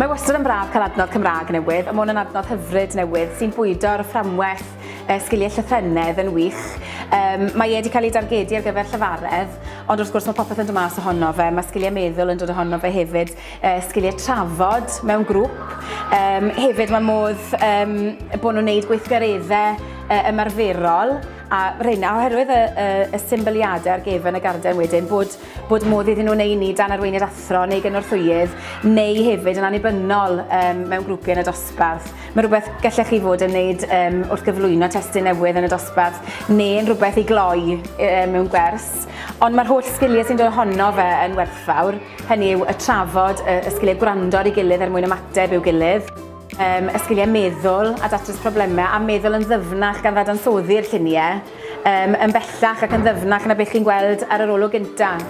Mae wastad yn braf cael adnodd Cymraeg newydd, a mae hwn yn adnodd hyfryd newydd sy'n bwydo ar y fframwerth e, sgiliau llythrennedd yn wych. Um, mae e wedi cael ei dargedu ar gyfer llyfaredd, ond wrth gwrs mae popeth yn dod mas ohono fe, mae sgiliau meddwl yn dod ohono fe hefyd, e, sgiliau trafod mewn grŵp. Um, hefyd mae modd um, bod nhw'n gwneud gweithgareddau e, ymarferol, a rheina oherwydd y, y, y symbyliadau ar gefn y garden wedyn bod bod modd iddyn nhw neu ni dan arweinydd athro neu gynorthwyydd neu hefyd yn annibynnol um, mewn grwpiau yn y dosbarth. Mae rhywbeth gallech chi fod yn wneud um, wrth gyflwyno testyn newydd yn y dosbarth neu yn rhywbeth i gloi um, mewn gwers. Ond mae'r holl sgiliau sy'n dod ohono fe yn werthfawr, hynny yw y trafod, y, y sgiliau gwrando ar ei gilydd er mwyn ymateb i'w gilydd um, y sgiliau meddwl a datrys problemau a meddwl yn ddyfnach gan ddadansoddi'r lluniau. Yym, yn bellach ac yn ddyfnach na beth chi'n gweld ar yr olwg gyntaf.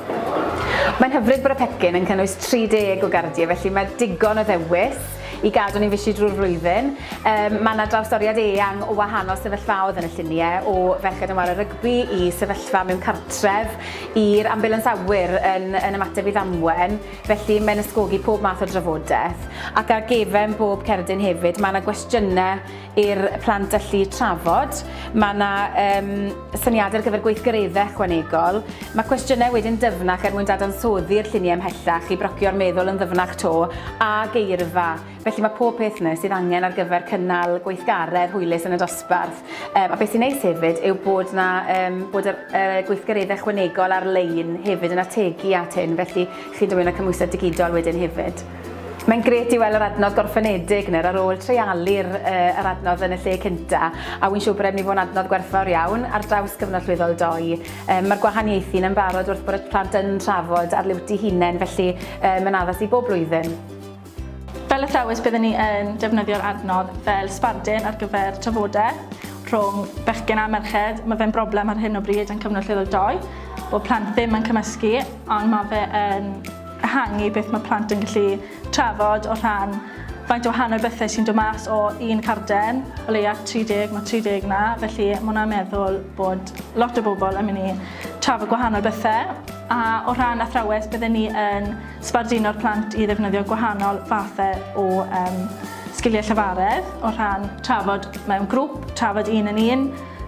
Mae'n hyfryd bod y pecyn yn cynnwys 30 o gardiau, felly mae digon o ddewis i gadw ni'n fishi drwy'r flwyddyn. Yym, mae yna drawstoriad eang o wahanol sefyllfaoedd yn y lluniau, o ferched yn ware rygbi i sefyllfa mewn cartref, i'r ambiwlans awyr yn yn ymateb i ddamwen, felly mae'n ysgogi pob math o drafodaeth. Ac ar gefn bob cerdyn hefyd, mae yna gwestiynau i'r plant allu trafod. Mae yna um, syniadau ar gyfer gweithgareddau ychwanegol. Mae cwestiynau wedyn dyfnach er mwyn dadansoddi'r lluniau ymhellach i brocio'r meddwl yn ddyfnach to a geirfa. Felly mae pob peth yna sydd angen ar gyfer cynnal gweithgaredd hwylus yn y dosbarth. Um, a beth sy'n neis hefyd yw bod, na, um, bod y, y gweithgareddau ychwanegol ar-lein hefyd yn ategu at hyn, felly chi'n dymuno cymwysedd digidol wedyn hefyd. Mae'n gret i weld yr adnodd gorffenedig nawr ar ôl treialu'r uh, yr adnodd yn y lle cynta, a wy'n siŵr bod e'n mynd i fod yn adnodd gwerthfawr iawn ar draws cyfnod llwyddol doi. Um, Mae'r gwahaniaethu yn barod wrth bod y plant yn trafod ar liwti hunain, felly um, mae'n addas i bob blwyddyn. Fel athrawes byddwn ni yn defnyddio'r adnodd fel sbardun ar gyfer trafodau rhwng bechgyn a merched. Mae fe'n broblem ar hyn o bryd yn cyfnod llwyddol doi, bod plant ddim yn cymysgu, ond mae fe yn ehangu beth mae plant yn gallu trafod o rhan faint o wahanol bethau sy'n dod mas o un carden, o leia 30, mae 30 na, felly mae hwnna'n meddwl bod lot o bobl yn mynd i trafod gwahanol bethau. A o rhan athrawes, byddwn ni yn sbarduno'r plant i ddefnyddio gwahanol fathau o um, sgiliau llafaredd, o rhan trafod mewn grŵp, trafod un yn un,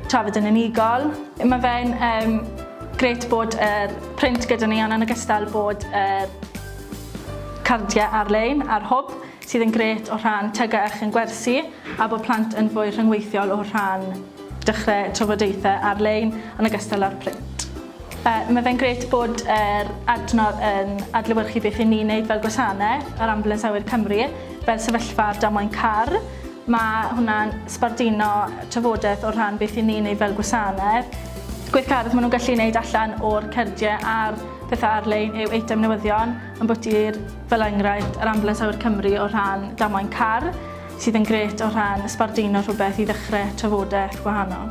trafod yn unigol. Mae fe'n um, gret bod yr er print gyda ni ond yn ogystal bod y cardiau ar-lein a'r hwb sydd yn gret o rhan tygau a chyn gwersi a bod plant yn fwy rhyngweithiol o rhan dechrau trafodaethau ar-lein yn ogystal â'r print. Uh, mae fe'n gret bod yr adnodd yn adlewyrchu beth i ni'n wneud fel gwasanaeth ar Ambulance Awyr Cymru, fel sefyllfa ar damwain car, Mae hwnna'n sbarduno trafodaeth o rhan beth i ni'n ei fel gwasanedd. Gweithgaredd maen nhw'n gallu wneud allan o'r cerdiau a'r pethau ar-lein yw eitem newyddion, ambwti'r fel enghraifft yr Ambulans Awyr Cymru o rhan damwain car, sydd yn gret o rhan sbarduno rhywbeth i ddechrau trafodaeth gwahanol.